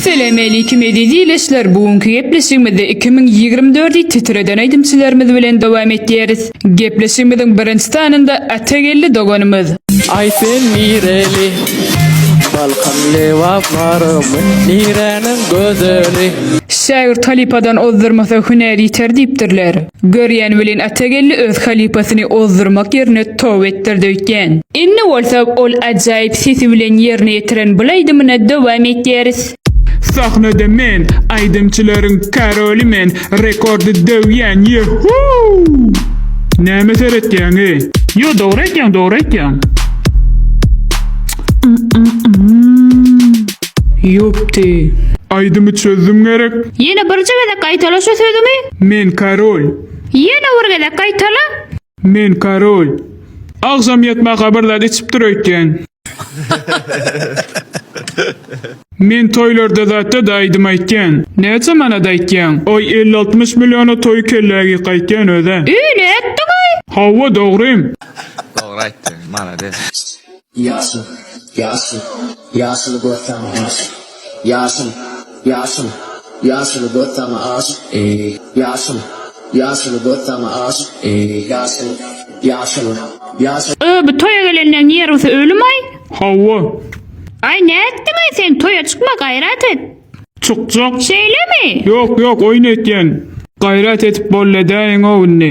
Salam aleýkum eziz ildeşler bu günki gepleşigimizde 2024 i titreden aýdymçylarymyz bilen dowam etýäris. Gepleşigimiziň birinji sanynda Atageldi doganymyz. Aý sen nireli Balkanly waparmy Niräniň gözeli. Şägirt halypadan ozdurmasa hünär ýiter diýipdirler. Görýän welin Atageldi öz halypasyny ozdurmak ýerine tow etdirdi öýtýän. Indi bolsa ol ajaýyp sesi bilen ýerine ýetiren bul aýdymyna dowam etýäris. Sahnada men, aýdymçylaryň karoly men, rekordy döwýän, ýe-huu! Näme seretýäňy? Ýo dogry aýtýaň dogry aýtýaň. Ýupti. Aýdymy çözdüm gerek. Ýene birje gezek gaýtala şu sözüňi. Men korol. Ýene bir gezek gaýtala. Men korol. Agşam ýatmaka bir zat içip dur öýtýän. Men toýlarda zatda-da aýdym aýtýan. Näçe manat aýtýaň? Aý elli-altmyş milliona toýy kellä geýip gaýtýan özä. Ýy ne etdiňaý? Hawa dogrym. Dogry aýtdy. Malades. Ýaşyl, ýaşyl, ýaşyly göz saňa aşyk. Ýaşyl, ýaşyl, ýaşyly göz saňa aşyk, eý, ýaşyl, ýaşyly göz saňa aşyk, eý, ýaşyl, ýaşyl, ýaşyl. Öö bu toýa gelenden nerwsy ölümaý. Hawa. Aý nätdiňaý sen toýa çykma gaýrat et. Çykjak. Şeýlemi? Ýok ýok oýun etýän. Gaýrat edip bolledäýiňow indi.